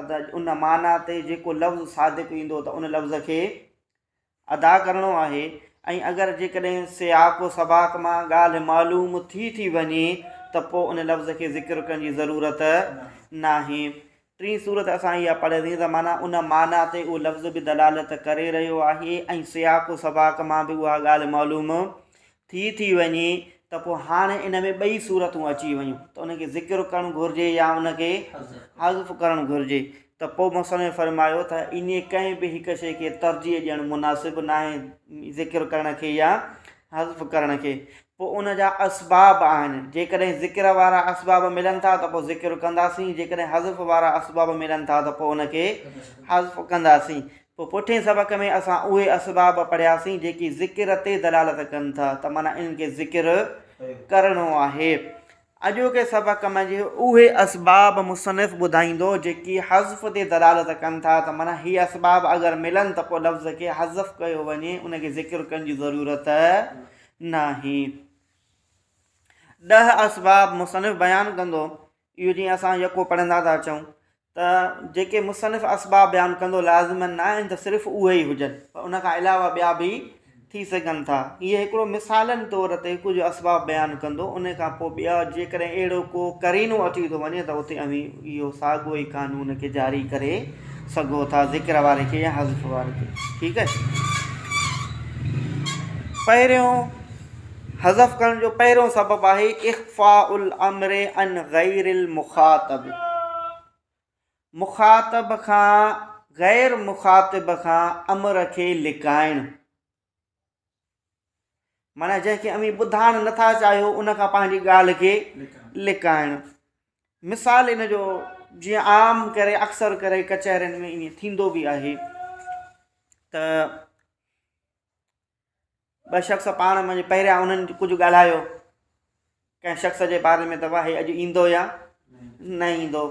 ادا ان معنيٰ تي جيڪو لفظ صادق ايندو ته ان لفظ کي ادا ڪرڻو آهي ۽ اگر جيڪڏهن سياق و سباق مان ڳالهه معلوم ٿي ٿي وڃي ته پوء ان لفظ کي ذڪر ڪرڻ جي ضرورت ناهي. ٽين صورت اسان اها پڙهياسين ته معنيٰ ان معنيٰ تي اهو لفظ به دلالت ڪري رهيو آهي ۽ سياق و سباق مان به اها ڳالهه معلوم ٿي ٿي وڃي ته پوء هاڻ ان ۾ ٻئي صورتون اچي ويون ته ان کي ذڪر ڪرڻ گهرجي يا ان کي حذف ڪرڻ گهرجي ته پوء مصنف فرمايو ته انهيء ڪنهن به هڪ شيء کي ترجيح ڏيڻ مناسب ناهي ذڪر ڪرڻ کي يا حذف ڪرڻ کي پوء ان جا اسباب آهن جيڪڏهن ذڪر وارا اسباب ملن ٿا ته پوء ذڪر ڪنداسين جيڪڏهن حذف وارا اسباب ملن ٿا ته پوء ان کي حذف ڪنداسين پوء پوٺين سبق ۾ اسان اهي اسباب پڙهياسين جيڪي ذڪر تي دلالت ڪن ٿا ته معنيٰ انهن کي ذڪر ڪرڻو آهي. اڄوڪي سبق منجهه اهي اسباب مصنف ٻڌائيندو جيڪي حذف تي دلالت ڪن ٿا ته معنيٰ هي اسباب اگر ملن ته پوء لفظ کي حذف ڪيو وڃي ان کي ذڪر ڪرڻ جي ضرورت ناهي. ڏهه اسباب مصنف بيان ڪندو اهو جيئن اسان يڪو پڙهندا ٿا اچون ته جيڪي مصنف اسباب بيان ڪندو لازماً نه آهن ته صرف اهي ئي هجن پر ان کان علاوه ٻيا به ٿي سگهن ٿا هيء هڪڙو مثالن طور تي ڪجهه اسباب بيان ڪندو ان کان پوء ٻيا جيڪڏهن اهڙو ڪو قرينو اچي ٿو وڃي ته اتي اوهين اهو ساڳيو ئي قانون کي جاري ڪري سگهو ٿا ذڪر واري کي يا حذف واري کي ٺيڪ آهي پهريون حذف ڪرڻ جو پهريون سبب آهي اخفاء الامر عن غير المخاطب، مخاطب کان غير مخاطب کان امر کي لڪائڻ، معنيٰ جنهن کي اوهين ٻڌائڻ نٿا چاهيو ان کان پنهنجي ڳالهه کي لڪائڻ. مثال ان جو جيئن عام ڪري اڪثر ڪري ڪچهرين ۾ ائين ٿيندو به آهي ته ٻه شخص پاڻ منجهه پهريان انهن ڪجهه ڳالهايو. ڪنهن شخص جي باري ۾ ته واهي اڄ ايندو يا نه ايندو.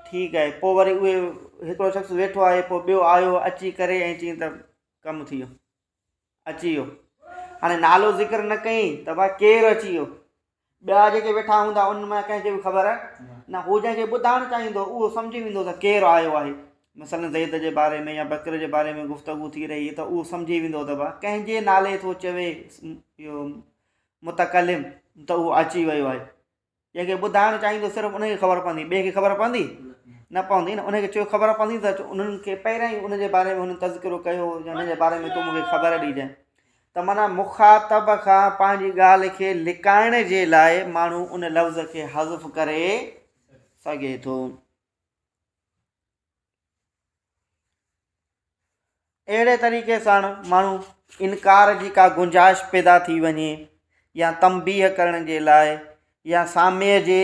ٺيڪ آهي. پوء وري اهي هڪڙو شخص ويٺو آهي پوء ٻيو آيو اچي ڪري ۽ چين ته ڪم ٿي ويو. اچي ويو. هاڻي نالو ذڪر نه ڪيئي ته واهي ڪير اچي ويو. ٻيا جيڪي ويٺا هوندا انهن مان ڪنهن کي به خبر نه. هو جنهن کي ٻڌائڻ چاهيندو اهو سمجهي ويندو ته ڪير آيو آهي. مثلاً زيد جي باري ۾ يا بڪر جي باري ۾ گفتگو ٿي رهي ته اهو سمجهي ويندو ته به ڪنهن جي نالي ٿو چوي اهو متڪلم ته اهو اچي ويو آهي. جنهن کي ٻڌائڻ چاهيندو صرف ان کي خبر پوندي ٻئي کي خبر پوندي؟ نه پوندي نه. ان کي چيو خبر پوندي ته انهن کي پهريان ئي ان جي باري ۾ هن تذڪرو ڪيو هو يا ان جي باري ۾ تون مون کي خبر ڏيجانء. ته معنيٰ مخاطب کان پنهنجي ڳالهه کي لڪائڻ جي لاء ماڻهو ان لفظ کي حذف ڪري سگهي ٿو. اهڙي طريقي سان ماڻهو انڪار جي ڪا گنجائش پيدا ٿي وڃي يا تنبيهه ڪرڻ جي لاء يا سامعي جي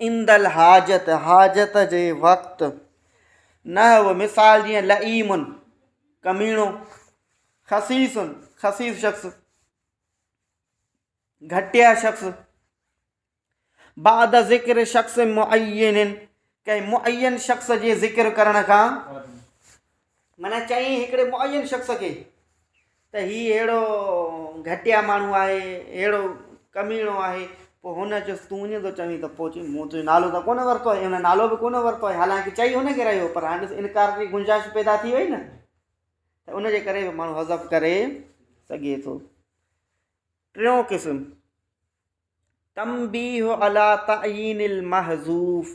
عند الحاجت، حاجت جي وقت، نحو مثال جيئن لئيم، ڪميڻو، خسيس، خسيس شخص، گهٽيا شخص، بعد ذڪر شخص معين، ڪنهن معين شخص جي ذڪر ڪرڻ کان معنيٰ چيائين هڪڙي معين شخص کي ته هي اهڙو گهٽيا ماڻهو آهي اهڙو ڪميڻو آهي پوء هن چيس تون ائين ٿو چوين ته پوء چي مون تنهنجو نالو ته ڪونه ورتو آهي هن نالو به ڪونه ورتو آهي حالانڪه چئي هن کي رهيو پر هاڻي ڏس انڪار جي گنجائش پيدا ٿي وئي نه ته ان جي ڪري به ماڻهو حذف ڪري سگهي ٿو ٽيون قسم تنبيه على تعين المحذوف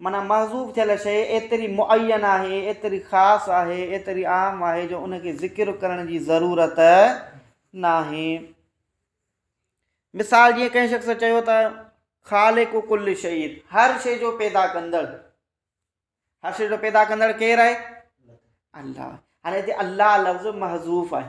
معنيٰ محذوف ٿيل شيء ايتري معين آهي، ايتري خاص آهي، ايتري عام آهي جو ان کي ذڪر ڪرڻ جي ضرورت ناهي. مثال، جيئن ڪنهن شخص چيو ته، خالق ڪل شيء، هر شيء جو پيدا ڪندڙ. هر شيء جو پيدا ڪندڙ ڪير آهي؟ الله. هاڻي هتي الله لفظ محذوف آهي.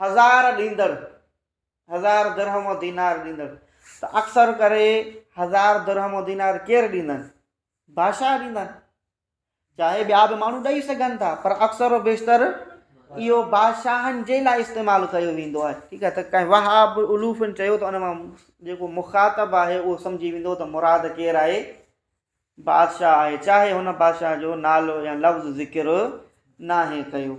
هزار ڏيندڙ، هزار درهم و دينار ڏيندڙ، ته اڪثر ڪري هزار درهم و دينار ڪير ڏيندن؟ بادشاهه ڏيندن. چاهي ٻيا به ماڻهو ڏئي سگهن ٿا پر اڪثر و بيشتر اهو بادشاهن جي لاء استعمال ڪيو ويندو آهي. ٺيڪ آهي ته ڪنهن وهاب الوفن چيو ته ان مان جيڪو مخاطب آهي اهو سمجهي ويندو ته مراد ڪير آهي؟ بادشاهه آهي چاهي هن بادشاهه جو نالو يا لفظ ذڪر ناهي ڪيو.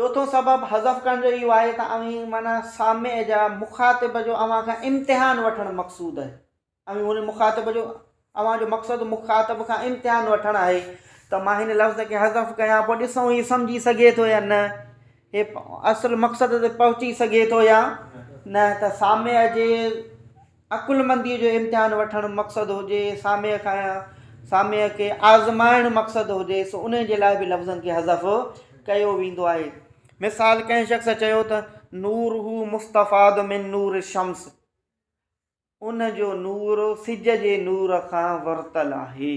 چوٿون سبب حذف ڪرڻ جو اهو آهي ته اوهين معنيٰ سامع جا مخاطب جو اوهان کان امتحان وٺڻ مقصود آهي. اوهين هن مخاطب جو اوهان جو مقصد مخاطب کان امتحان وٺڻ آهي ته مان هن لفظ کي حذف ڪيان پوء ڏسون هي سمجهي سگهي ٿو يا نه هي اصل مقصد تي پهچي سگهي ٿو يا نه ته سامع جي عقلمنديء جو امتحان وٺڻ مقصد هجي، ساميء کانئن ساميء کي آزمائڻ مقصد هجي، سو انهيء جي لاء به لفظن کي حذف ڪيو ويندو آهي. مثال، ڪنهن شخص چيو ته، نوره مستفاد من نور الشمس، ان جو نور سج جي نور کان ورتل آهي.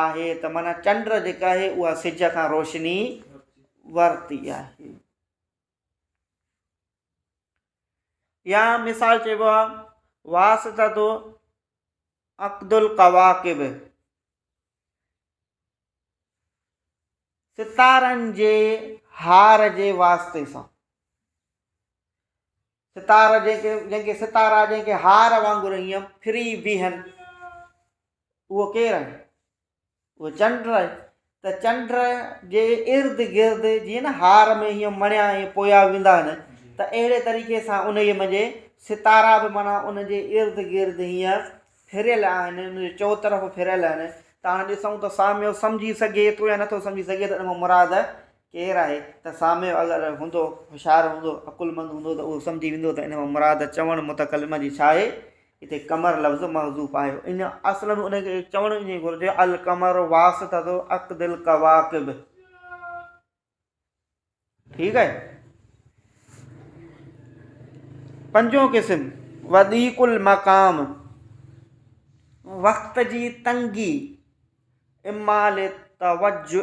آهي ته معنيٰ چنڊ جيڪا آهي اها سج کان روشني ورتي آهي يا مثال چئبو آهي واسطه تو عقد القواقب ستارن جي هار جي واسطي سان ستارا جنهن کي جنهن کي ستارا جنهن کي هار وانگر هينئن ڦري بيهن اهو ڪير آهي؟ اهو چنڊ آهي ته چنڊ جي ارد گرد جيئن نه هار ۾ هينئن مڻيا ائين پويا ويندا آهن ته اهڙي طريقي سان ان جي منجهه ستارا به معنيٰ ان جي ارد گرد هينئن ڦريل آهن ان جي چؤطرف ڦريل آهن ته هاڻ ڏسون ته ساميو سمجهي سگهي ٿو يا نٿو سمجهي سگهي ته ان مان مراد ڪير آهي ته ساميو اگر هوندو هوشيار هوندو عقلمند هوندو ته اهو سمجهي ويندو ته ان مان مراد چوڻ متڪلم جي ڇا آهي هتي قمر لفظ محذوف آهي ان اصل ۾ ان کي چوڻ ائين گهرجي القمر واسطه عقد القواقب ٺيڪ آهي پنجون قسم وضيق المقام وقت جي تنگي اما لتوجه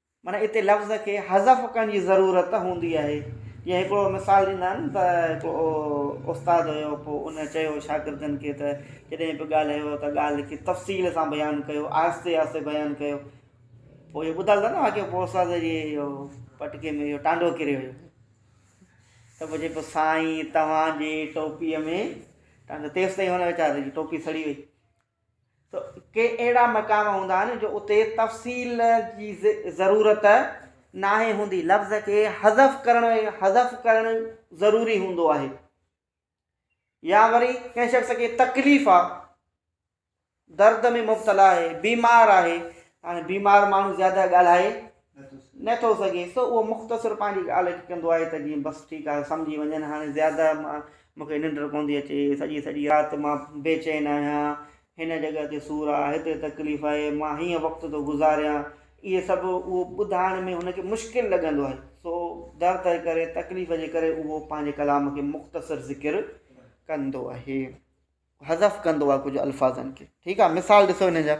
معنيٰ اتي لفظ کي حذف ڪرڻ جي ضرورت هوندي آهي. جيئن هڪڙو مثال ڏيندا آهن ته هڪڙو استاد هيو پوء ان چيو شاگردن کي ته جڏهن به ڳالهايو ته ڳالهه کي تفصيل سان بيان ڪيو آهستي آهستي بيان ڪيو پوء اهو ٻڌل اٿن واقعو پوء استاد جي اهو پٽڪي ۾ اهو ٽانڊو ڪري ويو ته پوء چئي پيو سائين توهان جي ٽوپيء ۾ ٽانڊو تيسين هن ويچاري جي ٽوپي سڙي وئي ته ڪي اهڙا مقام هوندا آهن جو اتي تفصيل جي ضرورت ناهي هوندي لفظ کي حذف ڪرڻ حذف ڪرڻ ضروري هوندو آهي يا وري ڪنهن شخص کي تڪليف آ درد ۾ مبتلا آهي بيمار آهي هاڻي بيمار ماڻهو زياده ڳالهائي نه ٿو سگهيس ته اهو مختصر پنهنجي ڳالهه کي ڪندو آهي ته جيئن بس ٺيڪ آهي سمجهي وڃن هاڻي زياده مان مون کي ننڊ ڪون ٿي اچي سڄي سڄي رات مان بي چين آهيان هن جڳهه تي سور آهي هتي تڪليف آهي مان هيئن وقت ٿو گذاريان اهي سڀ اهو ٻڌائڻ ۾ هن کي مشڪل لڳندو آهي سو در تي ڪري تڪليف جي ڪري اهو پنهنجي ڪلام کي مختصر ذڪر ڪندو آهي حذف ڪندو آهي ڪجهه الفاظن کي ٺيڪ آهي مثال ڏسو هن جا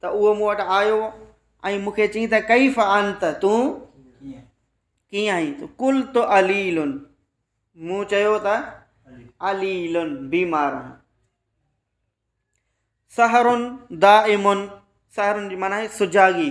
ته اهو مون وٽ آيو ۽ مون کي چيائين ته ڪيف انت تون ڪيئن آهين ته ڪل تو عليل مون چيو ته عليل بيمار آهي سهرن دائمن سهرن جي معنی سجاڳي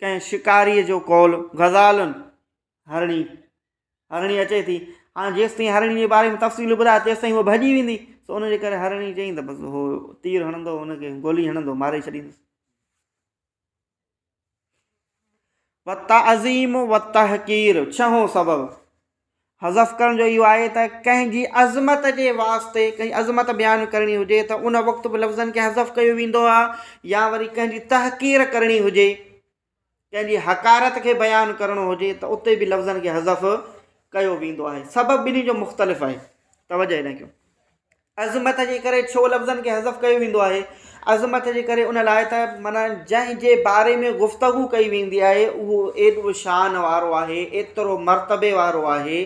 ڪنهن شڪاريء جو قول، غزالن، هرڻي، هرڻي اچي ٿي، هاڻ جيستائين هرڻي جي باري ۾ تفصيل ٻڌاء تيستائين هوء ڀڄي ويندي، سو ان جي ڪري هرڻي چيائين ته بس هو تير هڻندو، هن کي گولي هڻندو ماري ڇڏيندس. والتعظيم والتحقير ڇهون سبب، حذف ڪرڻ جو اهو آهي ته ڪنهن جي عظمت جي واسطي ڪنهن جي عظمت بيان ڪرڻي هجي ته ان وقت به لفظن کي حذف ڪيو ويندو آهي يا وري ڪنهن جي تحقير ڪرڻي هجي ڪنهن جي حقارت کي بيان ڪرڻو هجي ته اتي به لفظن کي حذف ڪيو ويندو آهي سبب ٻنهي جو مختلف آهي توجه هيڏانهن ڪيو عظمت جي ڪري ڇو لفظن کي حذف ڪيو ويندو آهي؟ عظمت جي ڪري ان لاء ته معنيٰ جنهن جي باري ۾ گفتگو ڪئي ويندي آهي اهو ايڏو شان وارو آهي، ايترو مرتبي وارو آهي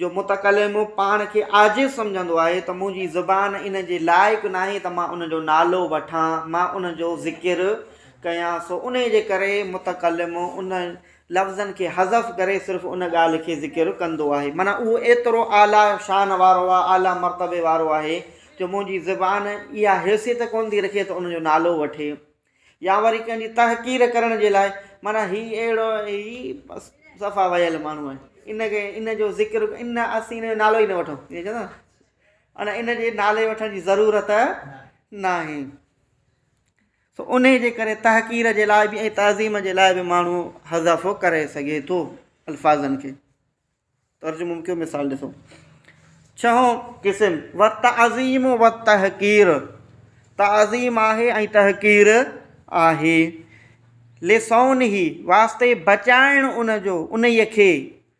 جو متڪلم پاڻ کي عاجز سمجهندو آهي ته منهنجي زبان ان جي لائق ناهي ته مان ان جو نالو وٺان، مان ان جو ذڪر ڪيان، سو انهي جي ڪري متڪلم ان لفظن کي حذف ڪري صرف ان ڳالهه کي ذڪر ڪندو آهي معنيٰ اهو ايترو اعليٰ شان وارو آهي اعليٰ مرتبي وارو آهي جو منهنجي زبان اها حيثيت ڪونه ٿي رکي ته ان جو نالو وٺي يا وري ڪنهن جي تحقير ڪرڻ جي لاء معنيٰ هي اهڙو هي بس صفا ويل ماڻهو آهي ان کي ان جو ذڪر ان اسين ان جو نالو ئي نه وٺو ائين چوندو نه ان ان جي نالي وٺڻ جي ضرورت ناهي سو انهي جي ڪري تحقير جي لاء به ۽ تعظيم جي لاء به ماڻهو حذفو ڪري سگهي ٿو الفاظن کي ترجمو ڪيو مثال ڏسو ڇهون قسم و تعظيم و تحقير تعظيم آهي ۽ تحقير آهي لسون هي واسطي بچائڻ ان جو انهي کي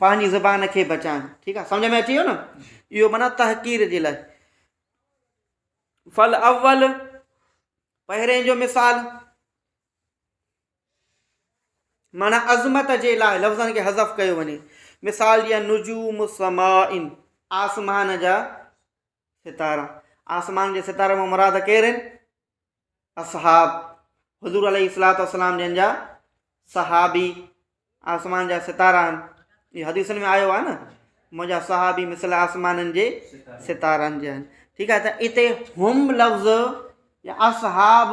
پنهنجي زبان کي بچائن ٺيڪ آ سمجھ ۾ اچي ويو نه اهو معنی تحقير جي لاء فل اول پهرين جو مثال معنی عظمت جي لاء لفظن کي حذف ڪيو وڃي مثال جيئن نجوم سماء آسمان جا ستارا، آسمان جي ستارن مان مراد ڪير آهن؟ اصحاب، حضور عليه الصلاة والسلام جن جا صحابي آسمان جا ستارا آهن هي حديثن ۾ آيو آهي نه منهنجا صحابي مثل آسمانن جي ستارن جي آهن ٺيڪ آهي ته هتي هم لفظ يا اصحاب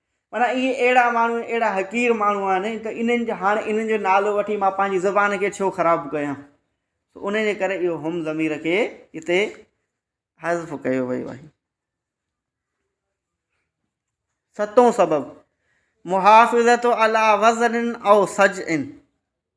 معنيٰ اهي اهڙا ماڻهو آهن اهڙا حقير ماڻهو آهن ته انهن جا هاڻي انهن جو نالو وٺي مان پنهنجي زبان کي ڇو خراب ڪيان ان جي ڪري اهو هم ضمير کي هتي حذف ڪيو ويو آهي ستون سبب محافظت علا وزن او سج ان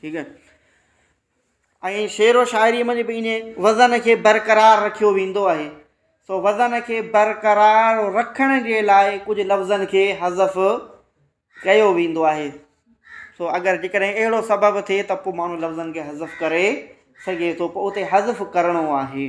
ٺيڪ آهي ۽ شعر و شاعري ۾ به انهي وزن کي برقرار رکيو ويندو آهي سو وزن کي برقرار رکڻ جي لاء ڪجهه لفظن کي حذف ڪيو ويندو آهي سو اگر جي ڪڏهن اهڙو سبب ٿئي ته پوء ماڻهو لفظن کي حذف ڪري سگهي ٿو پوء اتي حذف ڪرڻو آهي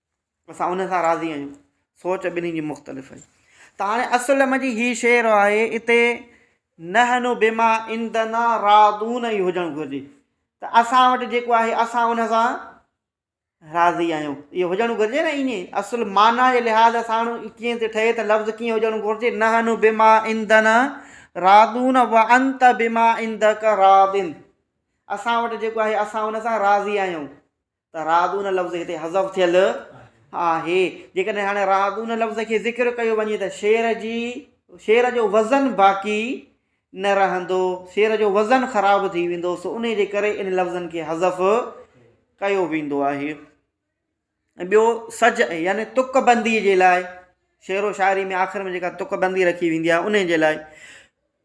اسان ان سان راضي آهيون. سوچ ٻنهي جي مختلف آهي. ته هاڻي اصل ۾ جي هي شعر آهي اتي نحن بما عندنا راضون ئي هجڻ گهرجي ته اسان وٽ جيڪو آهي اسان ان سان راضي آهيون اهو هجڻ گهرجي نه ائين اصل معنيٰ جي لحاظ سان ڪيئن ٿي ٺهي ته لفظ ڪيئن هجڻ گهرجي نحن بما عندنا راضون و انت بما عندک راض اسان وٽ جيڪو آهي اسان ان سان راضي آهيون ته رعدون لفظ هتي حذف ٿيل آهي. جيڪڏهن هاڻي رعدون لفظ کي ذڪر ڪيو وڃي ته شعر جي شعر جو وزن باقي نه رهندو، شعر جو وزن خراب ٿي ويندو، سو انهي جي ڪري ان لفظن کي حذف ڪيو ويندو آهي. ۽ ٻيو سجع يعني تڪ بندي جي لاء شعر و شاعري ۾ آخر ۾ جيڪا تڪ بندي رکي ويندي آهي انهي جي لاء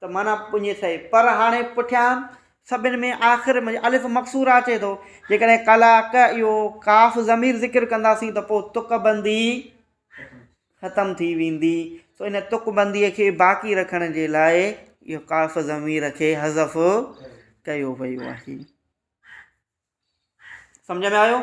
ته معنيٰ پڃي سهي. پر هاڻي پٺيان سڀن ۾ آخر ۾ الف مقصوره اچي ٿو. جيڪڏهن قلعه ڪه اهو قاف ضمير ذڪر ڪنداسين ته پوء تڪ بندي ختم ٿي ويندي. سو ان تڪ بنديء کي باقي رکڻ جي لاء اهو قاف ضمير کي حذف ڪيو ويو آهي. سمجهه ۾ آيو؟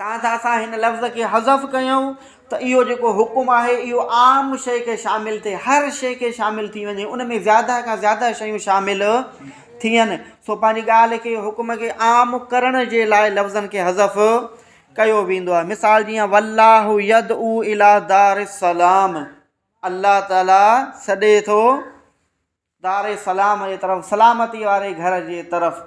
تان ته اسان هن لفظ کي حذف ڪيون ته اهو جيڪو حڪم آهي اهو عام شيء کي شامل ٿئي هر شيء کي شامل ٿي وڃي ان ۾ زياده کان زياده شيون شامل ٿين سو پنهنجي ڳالهه کي حڪم کي عام ڪرڻ جي لاء لفظن کي حذف ڪيو ويندو آهي مثال جيئن والله يد او الا دار السلام الله تعالی سڏي ٿو دار سلام جي طرف سلامتي واري گهر جي طرف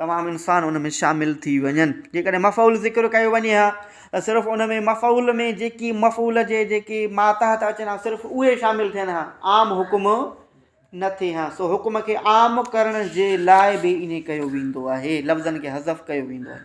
تمام انسان ان ۾ شامل ٿي وڃن جيڪڏهن مفعول ذڪر ڪيو وڃي ها ته صرف ان ۾ مفعول ۾ جيڪي مفعول جي جيڪي ماتحت اچن ها صرف اهي شامل ٿين ها عام حڪم نه ٿئي ها سو حڪم کي عام ڪرڻ جي لاء به ائين ڪيو ويندو آهي لفظن کي حذف ڪيو ويندو آهي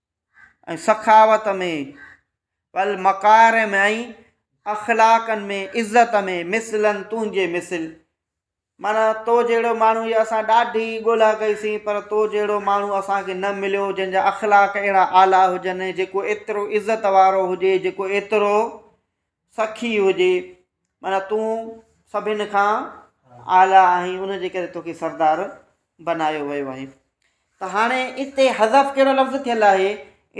۽ سخاوت ۾، والمڪارم ۽ اخلاقن ۾ عزت ۾، مثلاً تنهنجي مثل، معنيٰ تو جهڙو ماڻهو يا اسان ڏاڍي ڳولا ڪئي سين پر تو جهڙو ماڻهو اسان کي نه مليو جنهن جا اخلاق اهڙا اعليٰ هجن ۽ جيڪو ايترو عزت وارو هجي جيڪو ايترو سخي هجي معنيٰ تون سڀن کان اعليٰ آهين ان جي ڪري توکي سردار بنايو ويو آهي ته هاڻي اتي حذف ڪهڙو لفظ ٿيل آهي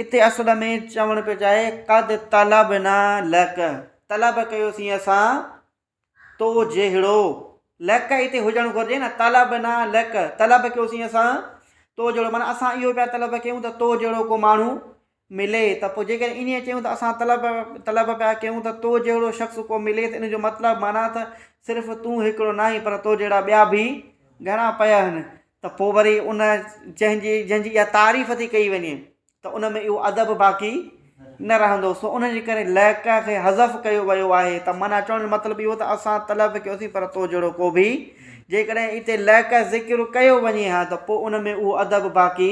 اتي اصل ۾ چوڻ پيو چاهي قد طلبنا لک طلب ڪيوسين اسان تو جهڙو لک اتي هجڻ گهرجي نه طلبنا لک طلب ڪيوسين اسان تو جهڙو معنيٰ اسان اهو پيا طلب ڪيون ته تو جهڙو ڪو ماڻهو ملي ته پوء جيڪڏهن ائين چيون ته اسان طلب طلب پيا ڪيون ته تو جهڙو شخص ڪو ملي ته ان جو مطلب معنيٰ ته صرف تون هڪڙو ناهين پر تو جهڙا ٻيا به گهڻا پيا آهن ته پوء وري ان جنهن جي جنهن جي اها تعريف ٿي ڪئي وڃي ته ان ۾ اهو ادب باقي نه رهندو سو ان جي ڪري ليڪ کي حذف ڪيو ويو آهي ته معنيٰ چوڻ جو مطلب اهو ته اسان طلب ڪيوسين پر تو جهڙو ڪو به جيڪڏهن اتي ليڪ ذڪر ڪيو وڃي ها ته پوء ان ۾ اهو ادب باقي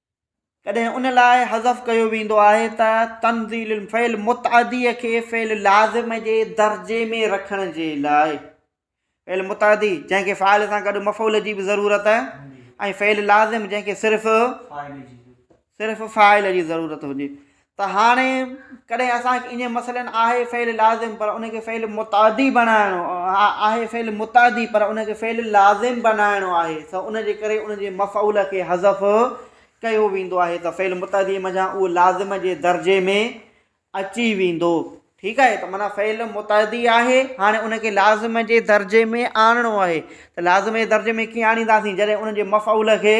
ڪڏهن ان لاء حذف ڪيو ويندو آهي ته تنزيل الفعل متعديء کي فعل لازم جي درجي ۾ رکڻ جي لاء فعل متعدي جنهن کي فاعل سان گڏ مفعول جي به ضرورت ۽ فعل لازم جنهن کي صرف صرف فاعل جي ضرورت هجي ته هاڻي ڪڏهن اسان کي اينجهن مسئلن آهي فعل لازم پر ان کي فعل متعدي بنائڻو آهي فعل متعدي پر ان کي فعل لازم بنائڻو آهي ته ان جي ڪري ان جي مفعول کي حذف ڪيو ويندو آهي ته فعل متعدي منجهان اهو لازم جي درجي ۾ اچي ويندو ٺيڪ آهي ته معنی فعل متعدي آهي هاڻي ان کي لازم جي درجي ۾ آڻڻو آهي ته لازم جي درجي ۾ ڪيئن آڻينداسين جڏهن ان جي مفعول کي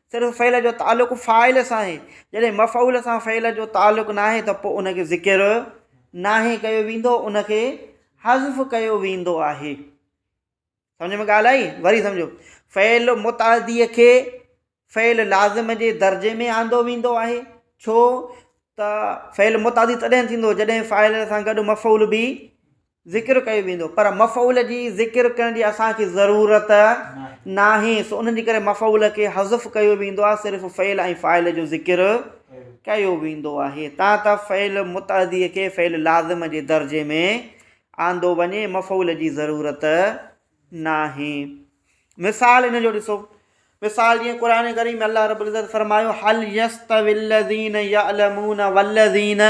صرف فعل جو تعلق فاعل سان آهي جڏهن مفعول سان فعل جو تعلق ناهي ته پوء ان کي ذڪر ناهي ڪيو ويندو ان کي حذف ڪيو ويندو آهي سمجھ ۾ ڳالھ آئي وري سمجھو فعل متعدي کي فعل لازم جي درجي ۾ آندو ويندو آهي ڇو ته فعل متعدي تڏهن ٿيندو جڏهن فاعل سان گڏ مفعول به ذڪر ڪيو ويندو پر مفعول جي ذڪر ڪرڻ جي اسان کي ضرورت ناهي سو انهن جي ڪري مفعول کي حذف ڪيو ويندو آهي صرف فعل ۽ فاعل جو ذڪر ڪيو ويندو آهي تان ته فعل متعدي کي فعل لازم جي درجي ۾ آندو وڃي مفعول جي ضرورت ناهي مثال ان جو ڏسو مثال جيئن قرآن ڪريم ۾ الله رب العزت فرمايو حل يستوي الذين يعلمون والذين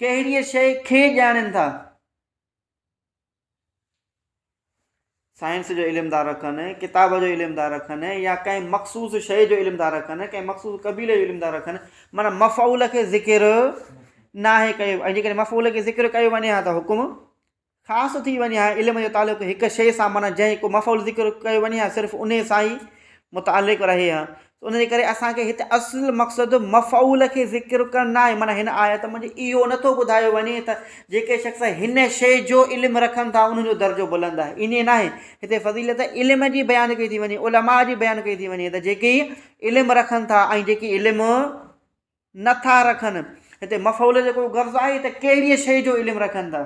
ڪهڙيء شيء کي ڄاڻين ٿا؟ سائنس جو علم ٿا رکن، ڪتاب جو علم ٿا رکن يا ڪنهن مخصوص شيء جو علم ٿا رکن، ڪنهن مخصوص قبيلي جو علم ٿا رکن، معنيٰ مفعول کي ذڪر ناهي ڪيو ۽ جيڪڏهن مفعول کي ذڪر ڪيو وڃي ها ته حڪم خاص ٿي وڃي ها علم جو تعلق هڪ شيء سان معنيٰ جنهن هڪ مفعول ذڪر ڪيو وڃي ها صرف انهي سان ئي متعلق رهي ها ان جي ڪري اسان کي هتي اصل مقصد مفعول کي ذڪر ڪرڻ نه آهي معنيٰ هن آيت ۾ اهو نٿو ٻڌايو وڃي ته جيڪي شخص هن شيء جو علم رکن ٿا انهن جو درجو بلند آهي ائين نه آهي هتي فضيلت علم جي بيان ڪئي ٿي وڃي علماء جي بيان ڪئي ٿي وڃي ته جيڪي علم رکن ٿا ۽ جيڪي علم نه ٿا رکن هتي مفعول جو ڪو غرض آهي ته ڪهڙيء شيء جو علم رکن ٿا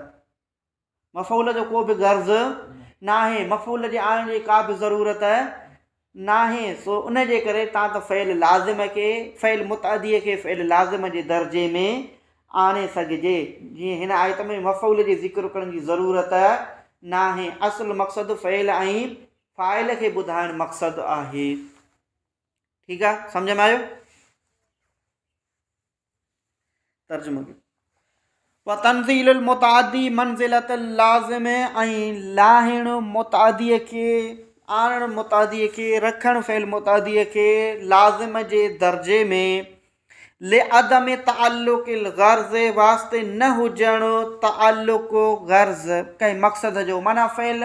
مفعول جو ڪو به غرض ناهي مفعول جي آڻڻ جي ڪا به ضرورت ناهي سو ان جي ڪري تان ته فعل لازم کي فعل متعدي کي فعل لازم جي درجي ۾ آڻي سگهجي جيئن هن آيت ۾ مفعول جي ذڪر ڪرڻ جي ضرورت ناهي اصل مقصد فعل ۽ فاعل کي ٻڌائڻ مقصد آهي. ٺيڪ آ سمجھ ۾ آيو ترجمو ڪيو وتنزيل المتعدي منزلت اللازم ۽ لاهڻ متعدي کي آڻڻ متعدي کي رکڻ فعل متعدي کي لازم جي درجي ۾ لعدم تعلق الغرض واسطي نه هجڻ تعلق غرض ڪنهن مقصد جو معنی فعل